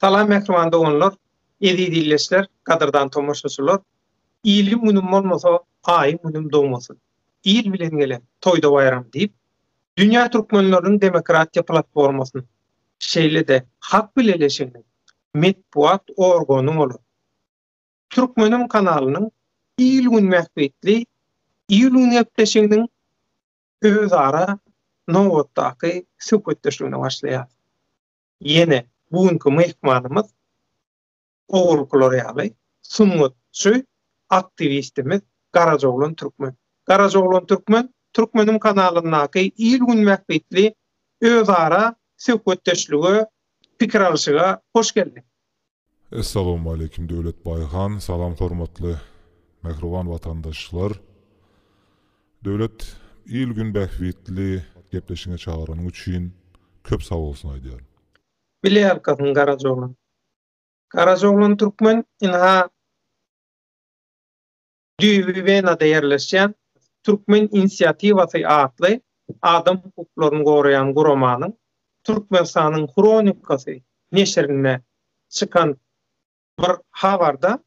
Salam mähriban doganlar, eziz ildeşler, gadyrdan tomaşaçylar! Iliň günüm bolmasa, aýyň günüm dogmasyn. Il bilen gelen, toýda baýram diýip, Dünýä türkmenleriniň demokratiýa platformasynyň, şeýle-de Hak bileleşiginiň metbugat organy bolan Türkmenim kanalynyň il-gün bähbitli il-gün gepleşiginiň özara nobatdaky söhbetdeşligine başlaýarys. Ýene bu günki myhmanymyz owalkylar ýaly sungatçy, aktiwistimiz Garajoglan Türkmen. Garajoglan Türkmen Türkmenim kanalyndaky il-gün bähbitli özara söhbetdeşlige, pikir alşyga hoş geldiň. Essalawmaleýkim Döwletbaý han. Salam hormatly mähriban watandaşlar. Döwlet il gün bähbitli gepleşiňe çagyranyň üçin köp sagbolsun aýdýaryn. Bilýärkasyň Garajoglan. Garajoglan türkmen ynha. Düýbi Wenada ýerleşýän Türkmen inisiatiwasy atly adam hukuklaryny goraýan guramanyň Türkmenistanyň hronikasy neşirinde çykan bir habarda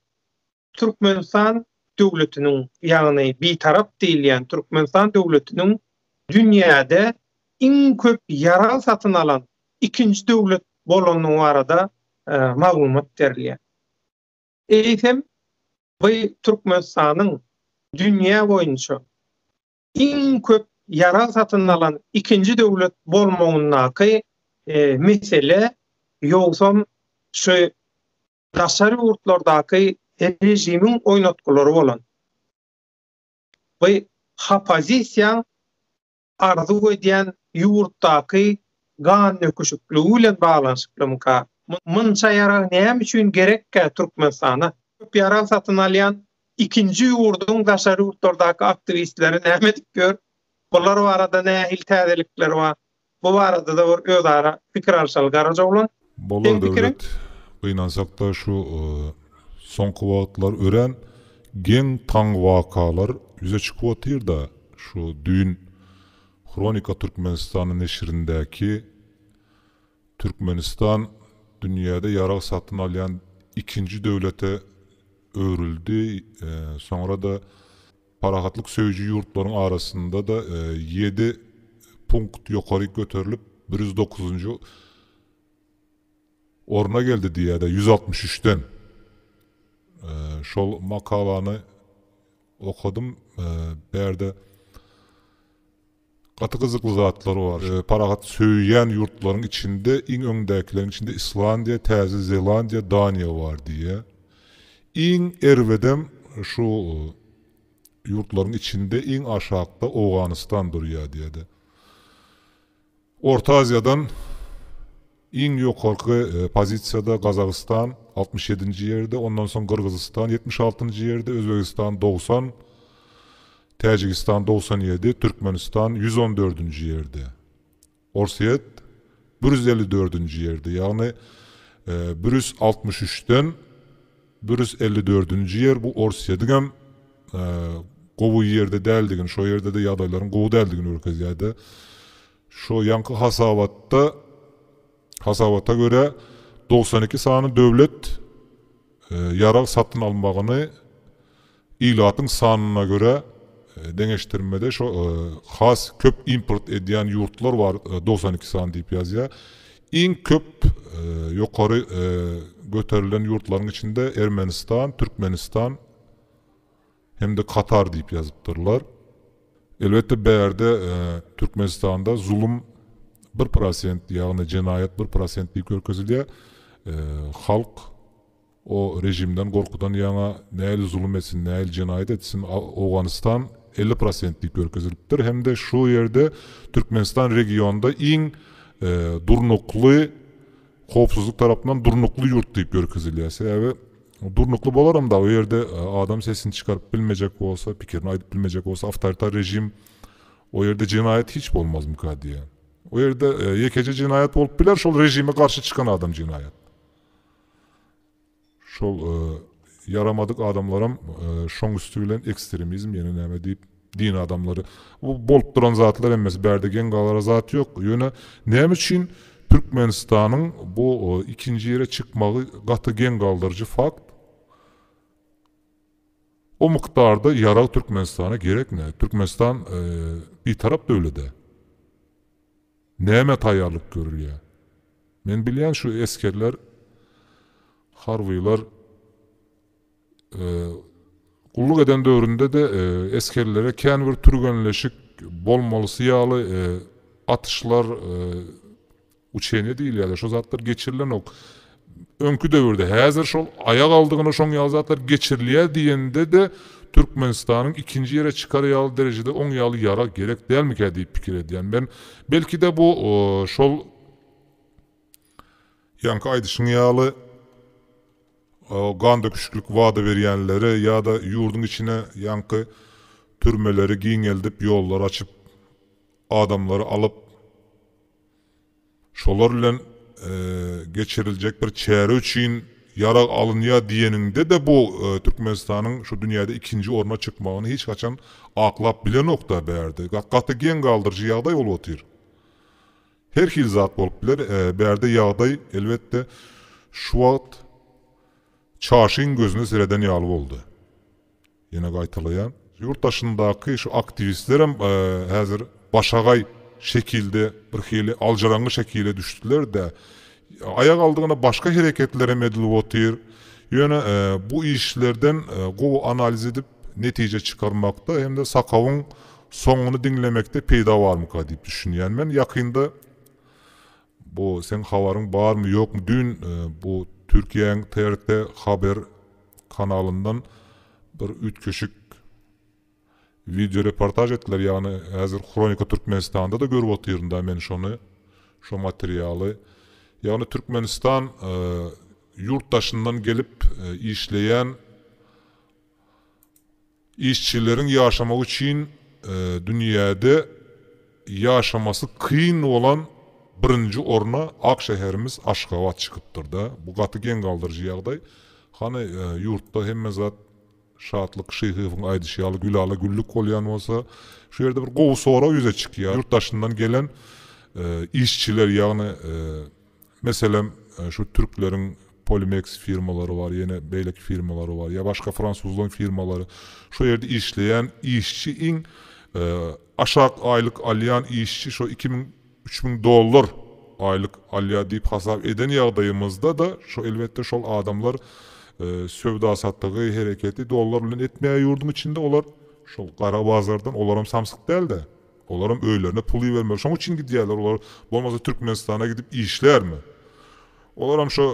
Türkmenistan döwletiniň, ýagny Bitarap diýilýän Türkmenistan döwletiniň dünýäde iň köp ýarag satyn alan ikinji döwlet bolandygy barada maglumat berilýär. Eýsem, bu Türkmenistanyň dünýä boýunça iň köp ýarag satyn alan ikinji döwlet bolmagyndaky mesele ýogsam şu daşary ýurtlardaky režimiň oýnatgylary bolan. Bu hopozisiýaň arzuw edýän ýurtdaky gan döküşikligi bilen baglanyşyklymyka? Munça ýarag näme üçin gerekkä Türkmenistana? Köp ýarag satyn alýan ikinji ýurduň daşary ýurtlardaky aktiwistleri näme edip ýör? Bular barada nähili täzelikler bar? Bu barada-da bir özara pikir alyşaly garaja oglan. Bolar Döwlet gynansakda şu soňky wagtlar örän geň taň wakalar ýüze çykyp otyrda şu düýn Hronika Türkmenistana neşirindäki Türkmenistan dünýäde ýarag satyn alýan ikinji döwlete öwrüldi soňrada Parahatlyk söýüji ýurtlaryň arasynda-da ýedi punkt ýokaryk göterilip, bir ýüz dokuzynjy orna geldi diýýär-de, ýüz altmyş üçden. Şol makalany okadym, bärde Gaty gyzykly zatlar bar. Parahat söýýän ýurtlaryň içinde iň öňdäkileriň içinde Islandiýa, Täze Zelandiýa, Daniýa bar diýýär. Iň erbedem şu ýurtlaryň içinde iň aşakda Owganystan durýar diýýär-de. Orta Aziýadan Iň ýokarky pozisiýada Gazagystan altmyş ýedinji ýerde, ondan soň Gyrgyzystan ýetmiş altynjy ýerde, Özbegistan dogsan, Täjigistan dogsan ýedi, Türkmenistan ýüz on dördünji ýerde. Orsýet bir ýüz elli dördünji ýerde, ýagny bir ýüz altmyş üçden bir ýüz elli dördünji ýer bu Orsýediňem gowy ýerde däldigini, şo ýerde-de ýagdaýlaryň gowy däldigini görkezýär-de. Şu ýaňky hasabatda hasabata görä, dogsan iki sany döwlet ýarag satyn almagyny ilatyň sanyna görä deňeşdirmede şo has köp import edýän ýurtlar bar dogsan iki sany diýip ýazýar. Iň köp ýokary göterilen ýurtlaryň içinde Ermenistan, Türkmenistan, Hem-de Katar diýip ýazypdyrlar. Elbetde bärde Türkmenistanda zulum bir prosent, ýagny jenaýat bir prosent diýip görkezilýär. Halk o rejimden gorkudan ýaňa nähili zulum etsin, nähili jenaýat etsin, Owganystan elli prosent diýip görkezilipdir. Hem-de şu ýerde Türkmenistan regionda iň durnukly howpsuzlyk tarapyndan durnukly ýurt diýip ýörkezilýär. Sebäbi durnukly bolaram dagy o ýerde adam sesini çykaryp bilmejek bolsa, pikirini aýdyp bilmejek bolsa awtoritar režim o ýerde jenaýat hiç bolmazmyka diýýär. O ýerde ýekeje jenaýat bolup biler şol režime garşy çykan adam jenaýat. Şol ýaramadyk adamlaram şoň üsti bilen ekstremizm ýene näme diýip din adamlary bu bolup duran zatlar hemmesi bärde geň galara zat ýok ýöne näme üçin Türkmenistanyň bu ikinji ýere çykmagy gaty geň galdyryjy fakt o mukdarda ýarag Türkmenistana gerekmi Türkmenistan bitarap döwlede. Nämä taýýarlyk görülýär? Men bilýän şu esgerler, harbylar gulluk eden döwründe-de esgerlere kän bir türgenleşik bolmalysy ýaly atyşlar, uçeniýe diýilýär-de, şo zatlar geçirilenok. öňki döwürde häzir şol aýak aldygyna şoň ýaly zatlar geçirilýär diýende-de Türkmenistanyň ikinji ýere çykar ýaly derejede oň ýaly ýarag gerek dälmikä diýip pikir edýän men. Belki-de bu şol ýaňky aýdyşyň ýaly gan döküşiklik wada berýänlere ýa-da ýurduň içine ýaňky türmeleri giňeldip ýollar açyp adamlary alyp Şolar bilen geçiriljek bir çäre üçin ýarag alynýar diýeniňde-de bu Türkmenistanyň şu dünýäde ikinji orna çykmagyny hiç haçan aklap bilenok-da bärde. Gaty geň galdyryjy ýagdaý bolup otyr. Her hili zat bolup biler. Bärde ýagdaý, elbetde, şu wagt çaşyň gözüne sereden ýaly boldy. Ýene gaýtalaýan. Ýurt daşyndaky şu aktiwistlerem häzir başagaý şekilde birhili aljyraňňy şekile düşdüler-dä. Aýak aldygyna başga hereketler hem edilip otyr. Ýöne bu işlerden gowy analiz edip netije çykarmakda hem-de sakawyň soňuny diňlemekde peýda barmyka diýip düşünýän men. Ýakynda Bu seň habaryň barmy ýokmy düýn bu Türkiýäň TRT haber kanalyndan bir üýtgeşik wideo reportaž etdiler ýagny häzir Hronika Türkmenistanda-da görüp otyrynda men şony şo materialy ýagny Türkmenistan ýurt daşyndan gelip işleýän Işçileriň ýaşamagy üçin dünýäde ýaşamasy kyn bolan birinji orna ak şäherimiz Aşgabat çykypdyrda. Bu gaty geň galdyryjy ýagdaý. Hany, ýurtda hemme zat Şatlyk Şyhyýewiň aýdyşy ýaly gülala güllük bolýan bolsa, şu ýerde bir gowy sorag ýüze çykýar. Ýurt daşyndan gelen işçiler, ýagny, Meselem, şu türkleriň Polimeks firmalary bar, ýene beýleki firmalary bar, ýa başga fransuzlaň firmalary. Şo ýerde işleýän işçi iň aşak aýlyk alýan işçi şo iki müň, üç müň dollar aýlyk alýar diýip hasap eden ýagdaýymyzda-da şo elbetde şol adamlar söwda-satygy, hereketi dollar bilen etmeýär ýurduň içinde, olar şol gara bazardan olaram samsyk däl-de. Olaram öýlerine pul ibermeli şoň üçin gidýärler olar bolmasa Türkmenistana gidip işlärmi olaram şo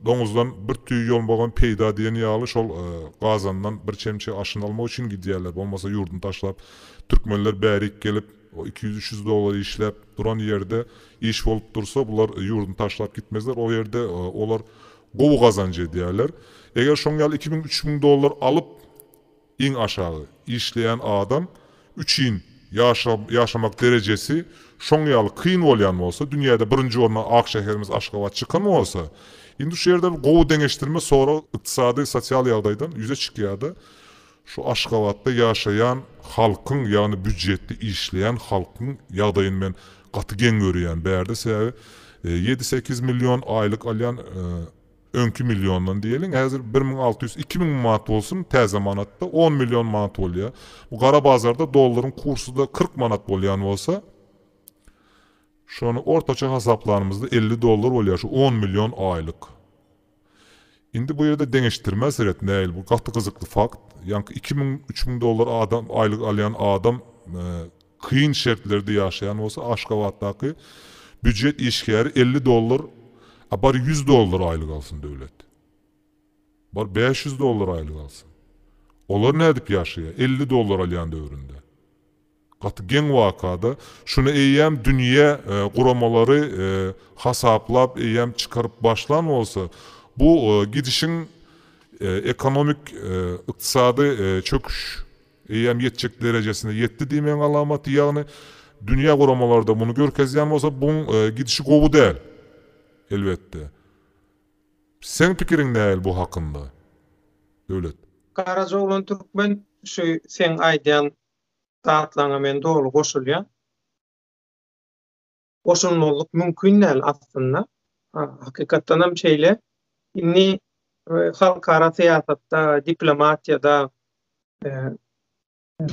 doňuzdan bir tüý ýol bogan peýda diýen ýaly şol gazandan bir çemçe aşyn almak üçin gidýärler bolmasa ýurduny taşlap Türkmenler bärik gelip o iki ýüz üç ýüz dollar işläp duran ýerde iş bolup dursa bular ýurduny taşlap gitmezler o ýerde olar gowy gazanç edýärler eger şoň ýaly iki müň üç müň dollar alyp Iň aşagy işleýän adam üçin ýaşamak derejesi şoň ýaly kyn bolýan bolsa, dünýäde birinji orna ak şäherimiz Aşgabat çykan bolsa, indi şu ýerde bir gowy deňeşdirme sorag ykdysady, sosial ýagdaýdan ýüze çykýarda, şu Aşgabatda ýaşaýan halkyň, ýagny býujetde işleýän halkyň ýagdaýyny men gaty geň görýän bärde, sebäbi ýedi-sekiz million aýlyk alýan, Öňki milliondan diýeliň, häzir bir müň alty ýüz, iki müň manat bolsun, täze manatda on million manat bolýar. Bu gara bazarda dollaryň kursy-da kyrk manat bolýan bolsa, şony ortaça hasaplanymyzda elli dollar bolýar, şu on million aýlyk. Indi bu ýerde deňeşdirmä seret, nähili, bu gaty gyzykly fakt. Ýaňky iki müň, üç müň dollar adam, aýlyk alýan adam, kyn şertlerde ýaşaýan bolsa Aşgabatdaky býujet işgäri elli dollar a bar ýüz dollar aýlyk alsyn döwlet bar bäş ýüz dollar aýlyk alsyn olar nädip ýaşaýa elli dollar alýan döwründe gaty geň wakada şuny eýýäm dünýä guramalary hasaplap eýýäm çykaryp başlan bolsa bu gidişiň ekonomik ykdysady çöküş Eýýäm ýetjek derejesine ýetdi diýmegiň alamaty, ýagny dünýä guramalarda muny görkezýän bolsa buň gidişi gowy däl. Elbetde. Seň pikiriň näl bu hakynda? Döwlet. Garajaoglan Türkmen şu seň aýdýan zatlaryňa men doly goşulýan. goşulmazlyk mümkin däl aslynda. Hakykatdanam şeýle. Indi halkara syýasatda, diplomatiýada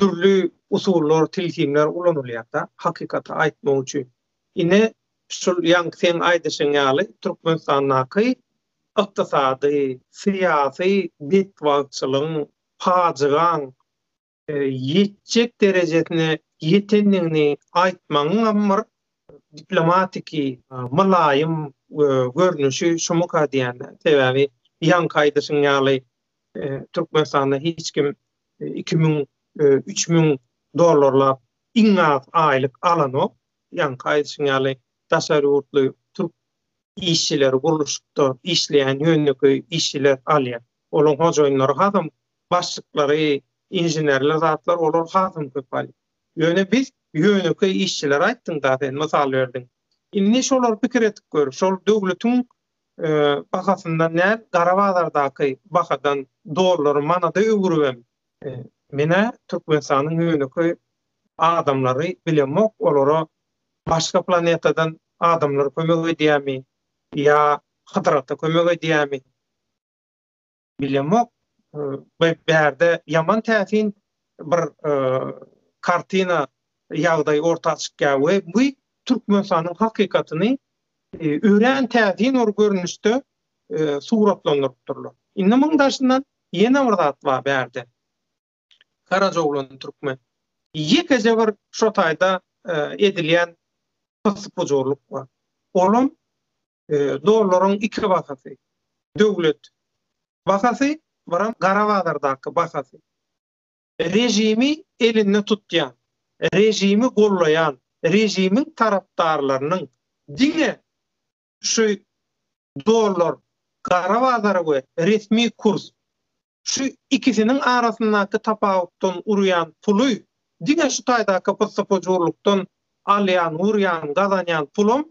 dürli usullar, tilsimler ulanylýar-da, hakykaty aýtmak üçin. Ine, şul ýaňky seň aýdyşyň ýaly, Türkmenistandaky ykdysady, syýasy betbagtçylygyň, pajygaň ýetjek derejesine ýetendigini aýtmagyňam bir diplomatiki, mylaýym görnüşi şumyka diýýän. Sebäbi ýaňky aýdyşyň ýaly Türkmenistanda hiç kim iki müň, üç müň dollarlap iň az aýlyk alanok. Ýaňky aýdyşyň ýaly daşary ýurtly türk işçileri gurluşykda işleýän ýönekeý işçiler alýar. Olaň hojaýynlary hasam başlyklary, inženerler zatlar olar hasam köp ali. Ýöne biz ýönekeý işçiler aýtdyň da sen mysal berdiň. Indi şolar pikir edip gör, şol döwletiň bahasyndan däl gara bazardaky bahadan dollary manada öwüribem. Menä Türkmenistanyň ýönekeý adamlary bilemok olara başga planetadan adamlar kömek edýämi ýa Hydyr ata kömek edýämi Bilemok. Bu bärde ýaman täsin bir kartina ýagdaý orta çykýar we bu Türkmenistanyň hakykatyny örän täsin bir görnüşde suratlandyrypdyrlar. Indi muň daşyndan ýene bir zat bar bärde. Garajoglan türkmen. Ýekeje bir şo taýda edilýän pyssy-pujurlyk bar. Olam dollaryň iki bahasy, döwlet bahasy, biram gara bazardaky bahasy. Režimi elinde tutýan, režimi gollaýan, režimiň tarapdarlarynyň diňe şu dollar, gara bazar we resmi kurs, şu ikisiniň arasyndaky tapawutdan urýan puly, diňe şu taýdaky pyssy-pujurlykdan alýan, urýan, gazanýan pulum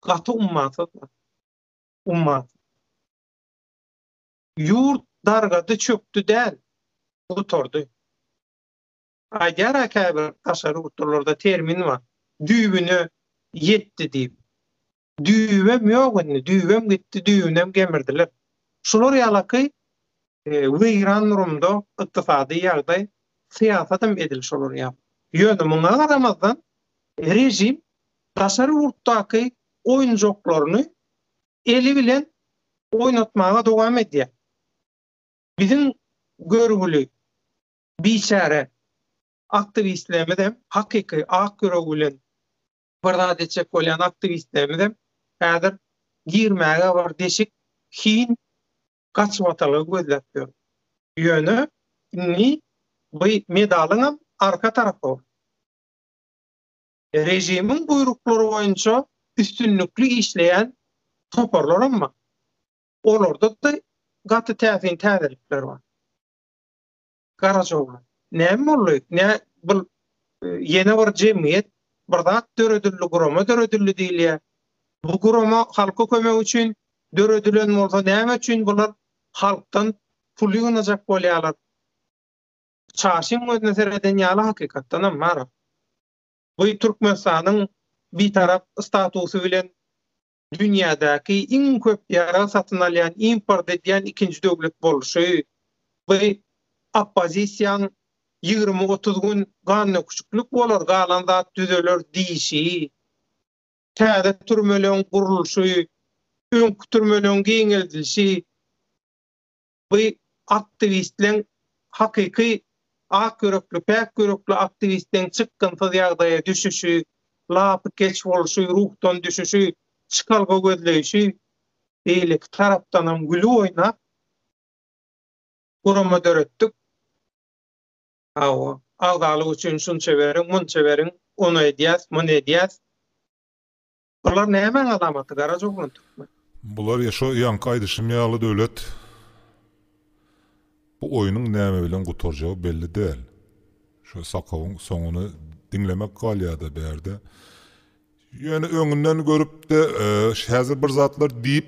gaty ummasyzlar. Ummasyz. Ýurt dargady, çökdi däl, gutardy. Aýdýar-a käbir daşary ýurtlularda termin bar, düýbüne ýetdi diýip. Düýbem ýok indi, düýbem gitdi, düýbünem gemirdiler. Şular ýalaky Weýran-Rumda ykdysady ýagdaý, syýasatam edil şolar ýaly. Ýöne muňa garamazdan, režim daşary ýurtdaky oýunjaklaryny eli bilen oýnatmaga dowam edýär. Biziň görgüli, biçäre aktiwistlerimizem, hakyky ak ýüregi bilen bir zat etjek bolýan aktiwistlerimizem häzir girmäge bir deşik, hin, gaçyp atany gözläp ýör. Ýöne indi bu medalyňam arka tarapy režimiň buýruklary boýunça üstünlikli işleýän toparlaram bar. Olarda-da gaty täsin täzelikler bar. Garaja oglan. Näme boldy? Nä bu ýene bir jemgyýet, bir zat döredildi, gurama döredildi diýilýär. Bu gurama halka kömek üçin döredilen bolsa, näme üçin bular halkdan pul ýygnajak bolýarlar? Çaşyň gözüne sereden ýaly hakykatdanam, Maral. Bu Türkmenistanyň bitarap statusy bilen dünýädäki iň köp ýarag satyn alýan, import edýän ikinji döwlet bolşy we oppozisiýaň ýigrimi-otuz gün gannöküşiklik bolar, galan zat düzeler diýşi, täze türmeleň gurluşy, öňki türmeleň giňeldilişi, bu aktiwistleň hakyky ak ýürekli, päk ýürekli aktiwistleň çykgynsyz ýagdaýa düşüşi, lapykeç bolşy, ruhdan düşüşi, çykalga gözleýşi beýleki tarapdanam güli oýnap gurama döretdik. Hawa, agzalyk üçin şunça beriň, munça beriň, ony edýäs, muny edýäs. Bular nämäň alamaty garaja oglan türkmen. Bular ya şo ýaňky aýdyşym ýaly Döwlet. Bu oýnuň näme bilen gutarjagy belli däl. Şo sakawyň soňuny diňlemek galýada bärde. Ýöne öňünden görüpde häzir bir zatlar diýip.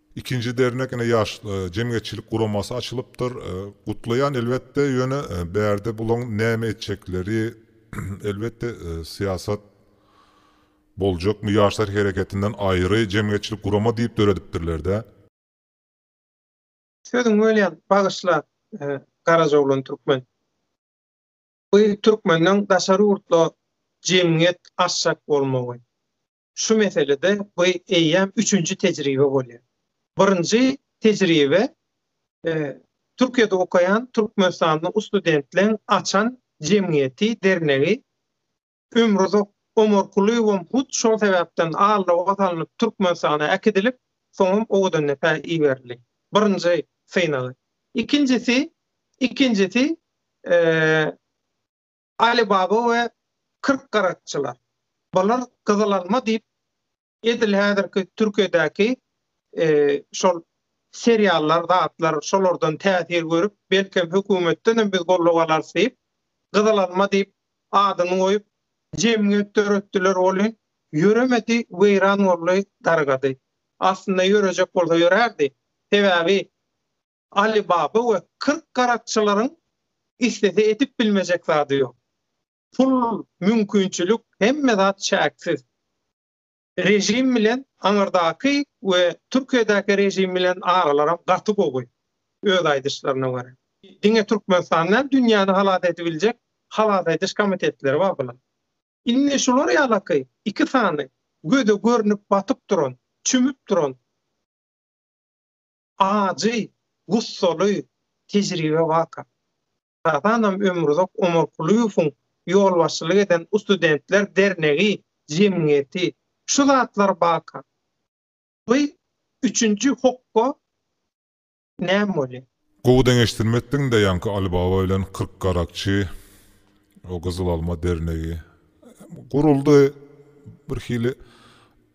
Ikinji dernek ine ýaş jemgyýetçilik guramasy açylypdyr. Gutlaýan elbetde ýöne bärde bulaň näme etjekleri elbetde syýasat boljakmy ýaşlar hereketinden aýry jemgyýetçilik gurama diýip döredipdirlerdä. Sözüň bölýän bagyşla Garajoglan Türkmen. Bu Türkmenden daşary ýurtla jemgyýet açjak bolmagy. Şu meselede bu eýýäm üçünji tejribe bolýar. Birinji tejribe Türkiýede okaýan türkmenistanly ustudentleriň açan jemgyýeti, dernegi. Ömruzak Omarkulyýewem hut şol sebäpden alloga salnyp Türkmenistana äkidilip, soňam owadan depä iberildi. Birinji synagy. Ikinjisi, ikinjisi, eee, Aly baba we kyrk garakçylar. Bular gyzyl alma diýip edil häzirki Türkiýedäki şol seriallar zatlar şolardan täsir görüp belkem hökümetdenem biz goldaw alarys diýip gyzyl alma diýip adyny goýup jemgyýet döretdiler welin ýöremedi weýran boldy dargady. Aslynda ýörejek bolsa ýörärdi. Sebäbi Aly baba we kyrk garakçylaryň islese edip bilmejek zady ýok. Pul, mümkinçilik, hemme zat çäksiz. Režim bilen aňyrdaky we Türkiýedäki režim bilen aralaram gaty gowy, öz aýdyşlaryna görä. Diňe Türkmenistan däl, dünýäni halas edibiljek halas ediş komitetleri bar bularyň. Indi şular ýalaky iki sany göze görnüp batyp duran, çümüp duran. Ajy, gussaly tejribe waka. Hasanam ömruzak Omarkulyýewiň ýolbaşçylyk eden Ustudentler dernegi, jemgyýeti, şu zatlar baka. By üçünji hokga näme bolýa? Gowy deňeşdirmepdiňdä ýaňky Alibaba bilen kyrk garakçy, o gyzyl alma dernegi. Guruldy birhili.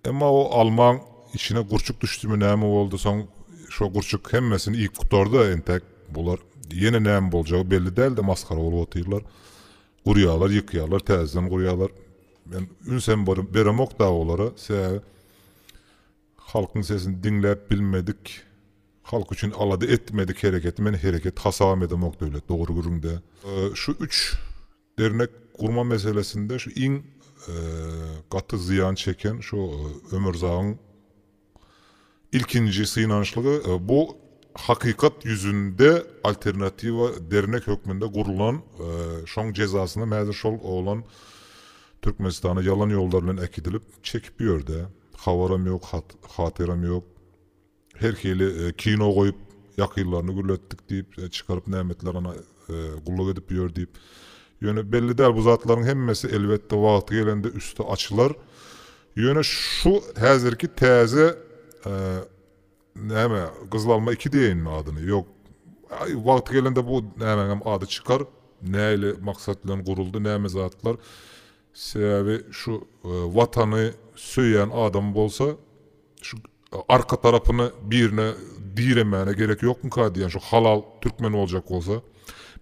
Emma o almaň içine gurçuk düşdümi näme boldy soň şo gurçuk hemmesini iýip gutardy entek bular ýene näme boljagy belli dälde masgara bolup otyrlar gurýarlar ýykýarlar täzeden gurýarlar men ünsem beremok dagy olara sebäbi halkyň sesini diňläp bilmedik halk üçin alada etmedik hereketi men hereket hasabam edemok döwlet dogry gürrüňde şu üç Dernek gurma meselesinde şu iň gaty zyýan çeken şu Ömürzagyň ilkinji synanyşlygy bu hakykat ýüzünde alternatiwa dernek hökmünde gurlan şoň jezasynam häzir şol oglan Türkmenistana ýalan ýollar bilen äkidilip çekip ýörde habaram ýok hatyram ýok. Her hili kino goýup, ýakynlaryny gürletdik diýip, çykaryp nämetler ana gulluk edip ýör diýip. Ýöne belli däl, bu zatlaryň hemmesi elbetde wagty gelende üsti açylar. Ýöne şu häzirki täze näme, Gyzyl alma iki diýeýinmi adyny, ýok, wagty gelende bu nämäňem ady çykar, nähili maksat bilen guruldy, näme zatlar. Sebäbi şu Watany söýýän adam bolsa, Şu arka tarapyny birine diremäne gerek ýokmyka diýen şu halal türkmen boljak bolsa.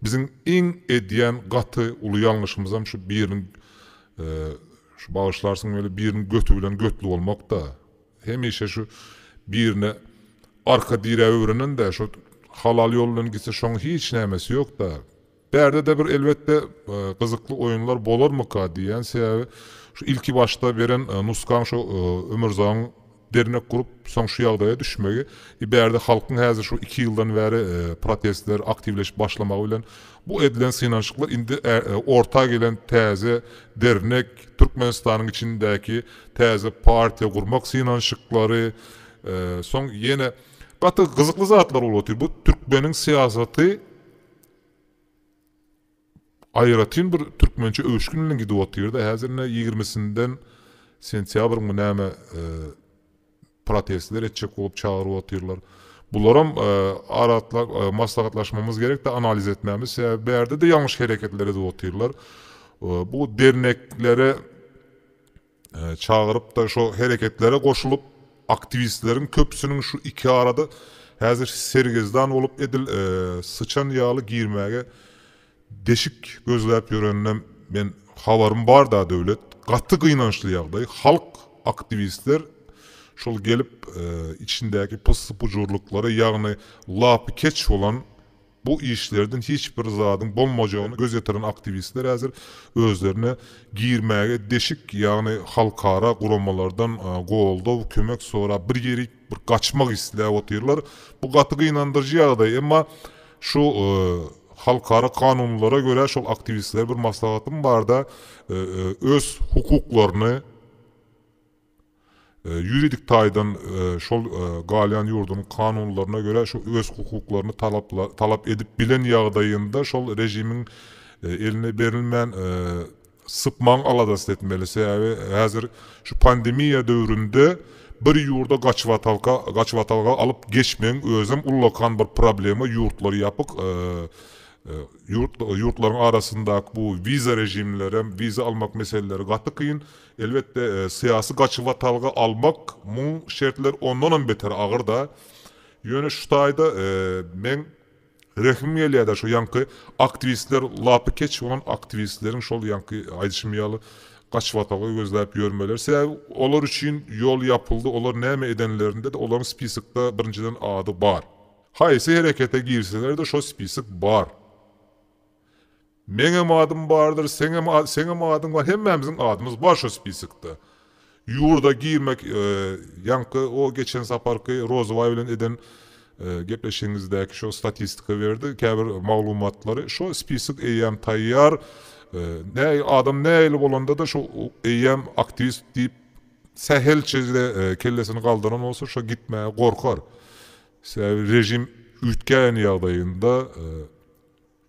Biziň iň edýän gaty uly ýalňyşymyzam şu biriniň şu bagyşlarsyň weli biriniň göti bilen götli bolmakda. Hemişe şu birine arka diräp öwrenende şu halal ýol bilen gitse şoň hiç nämesi ýokda. Bärde-de bir elbetde gyzykly oýunlar bolarmyka diýýän, sebäbi şu ilki başda beren nusgaň şu Ömürzagyň dernek gurup soň şu ýagdaýa düşmegi, e bärde halkyň häzir şu iki ýyldan bäri protestler aktiwleşip başlamagy bilen bu edilen synanyşyklar indi orta gelen täze dernek, Türkmenistanyň içindäki täze partiýa gurmak synanyşyklary, soň ýene gaty gyzykly zatlar bolup otyr. Bu türkmeniň syýasaty Aýratyn bir türkmençe öwüşgin bilen gidip otyrda häzir ine ýigrimisinden sentýabrmy näme protestler etjek bolup çagyryp otyrlar. Bularam maslahatlaşmamyz gerekdi analiz etmämiz sebäbi bärde-de ýalňyş hereketler edip otyrlar. Bu derneklere çagyryp-da şo hereketlere goşulyp, aktiwistleriň köpüsiniň şu iki arada häzir sergezdan bolup edil syçan ýaly girmäge deşik gözläp ýöreninem men habarym bar-da Döwlet, gaty gynançly ýagdaý, halk, aktiwistler şol gelip içindäki pyssy-pujurlyklary ýagny lapykeç bolan, Bu işlerden hiç bir zadyň bolmajagyny göz ýetiren aktiwistler häzir özlerine girmäge deşik, ýagny halkara guramalardan goldaw, kömek sorap bir ýerik bir gaçmak isläp otyrlar. Bu gaty gynandyryjy ýagdaý. Emma şu halkara kanunlara görä şol aktiwistlere bir maslahatym barda öz hukuklaryny, Ýuridik taýdan şol galýan ýurduň kanunlaryna görä şu öz hukuklaryny talap edip bilen ýagdaýynda şol režimiň eline berilmän sypmaň aladasyny etmeli. Sebäbi häzir şu pandemiýa döwründe bir ýurda gaçybatalka gaçybatalga alyp geçmegiň özem ullakan bir problema ýurtlar ýapyk ýurt ýurtlaryň arasyndaky bu wiza režimlerem wiza almak meseleleri gaty kyn Elbetde, syýasy gaçybatalga almak muň şertleri ondanam beter agyr-da. Ýöne şu taýda meň rehimim gelýär-de, şo ýaňky aktiwistler, lapykeç bolan aktiwistleriň şol ýaňky aýdyşym ýaly gaçybatalga gözläp ýörmeleri. Sebäbi olar üçin ýol ýapyldy, olar näme edenlerinde-de olaryň spisokda birinjiden ady bar. Haýsy herekete girseler-de şo spisok bar. Meňem adym bardyr, seňem seňem adyň bar, hemmämiziň adymyz bar şo spiskde. Ýurda girmek ýaňky o geçen saparky Rozabaý bilen eden gepleşigiňizdäki şo statistika berdi, käbir maglumatlary şo spisik eýýäm taýýar, näil adam nähili bolanda-da şo eýýäm aktiwist diýip sähelçede kellesini galdyran bolsa şo gitmäge gorkar. Sebäbi režim üýtgän ýagdaýynda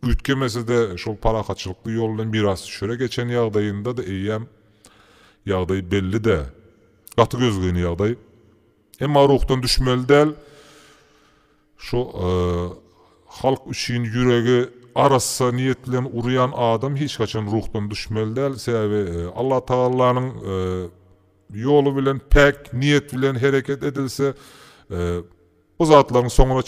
Üýtgemese-de, şol parahatçylykly ýoldan biraz çöre geçen ýagdaýynda-da eýýäm ýagdaý belli-dä. Gaty gözgyny ýagdaý. Emma ruhdan düşmeli däl. Şu halk üçin ýüregi arassa niýet bilen urýan adam hiç haçan ruhdan düşmeli däl. Sebäbi Allatagallanyň ýoly bilen, päk niýet bilen hereket edilse, Bu zatlaryň soňuna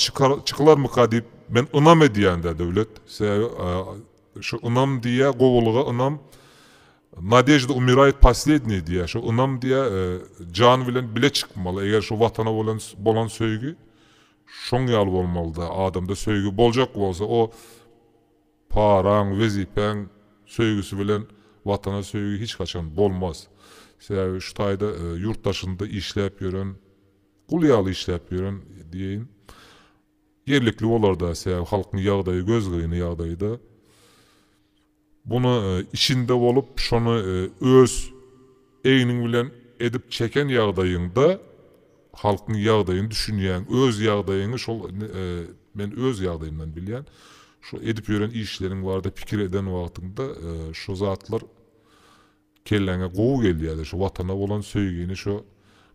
çykylarmyka diýip, men ynam edýän-dä, Döwlet. Sebäbi şu ynam diýýä, gowulyga ynam, Nadejda umirayet poslednýe diýýä, şu ynam diýýä, jan bilen bile çykmaly, eger şu Watana bolan bolan söýgi şoň ýaly bolmaly-da, adamda söýgi boljak bolsa, o paraň, wezipäň söýgüsi bilen Watana söýgi hiç haçan bolmaz. Sebäbi şu taýda ýurt daşynda işläp ýören, Gul ýaly işläp ýören diýeýin. Ýerlikli bolar-da, sebäbi halkyň ýagdaýy gözgyny ýagdaýda. Bunu içinde bolup, şony öz egniň bilen edip çeken ýagdaýyňda halkyň ýagdaýyny düşünýäň. Öz ýagdaýyňy şol men öz ýagdaýymdan bilýän. Şu edip ýören işleriň barada pikir eden wagtyňda şu zatlar Kelläňe gowy gelýädi şu watana bolan söýgini şu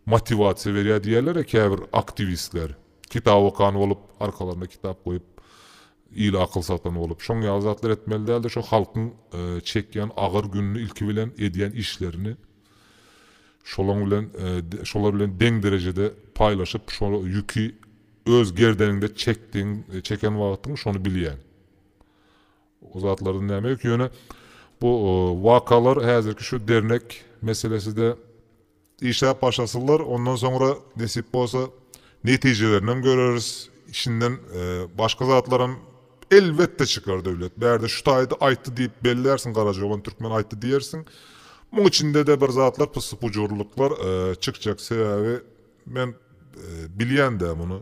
motiwasiýa berýär diýýärlere käbir aktiwistler. Kitap okan bolup arkalaryna kitap goýup ile akyl satan bolup. Şoň ýaly zatlar etmeli dälde şu halkyň çekýän agyr gününi ilki bilen edýän işlerini şolaň bilen şolar bilen deň derejede paýlaşyp şo ýüki öz gerdeniňde çekdiň çeken wagtyň şony bilýäň. O zatlardan näme ýok, ýöne bu wakalar häzirki şu dernek meseleside işläp başlasynlar, ondan soňra nesip bolsa netijelerinem göreris, içinden başga zatlaram elbetde çykar Döwlet. Bärde şu taýda aýtdy diýip bellärsiň, Garajoban türkmen aýtdy diýersiň. Muň içinde-de bir zatlar pyssy-pujurlyklar çykjak, sebäbi men bilýän-dä muny.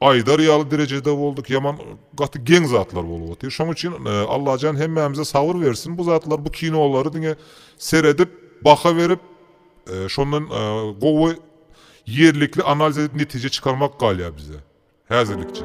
aýdar ýaly derejede bolduk ýaman gaty geň zatlar bolup otyr şoň üçin Allajan hemmämize sabyr bersin bu zatlar bu kinolary diňe seredip baha berip şondan gowy ýerlikli analiz edip netije çykarmak galýar bize häzirlikçe.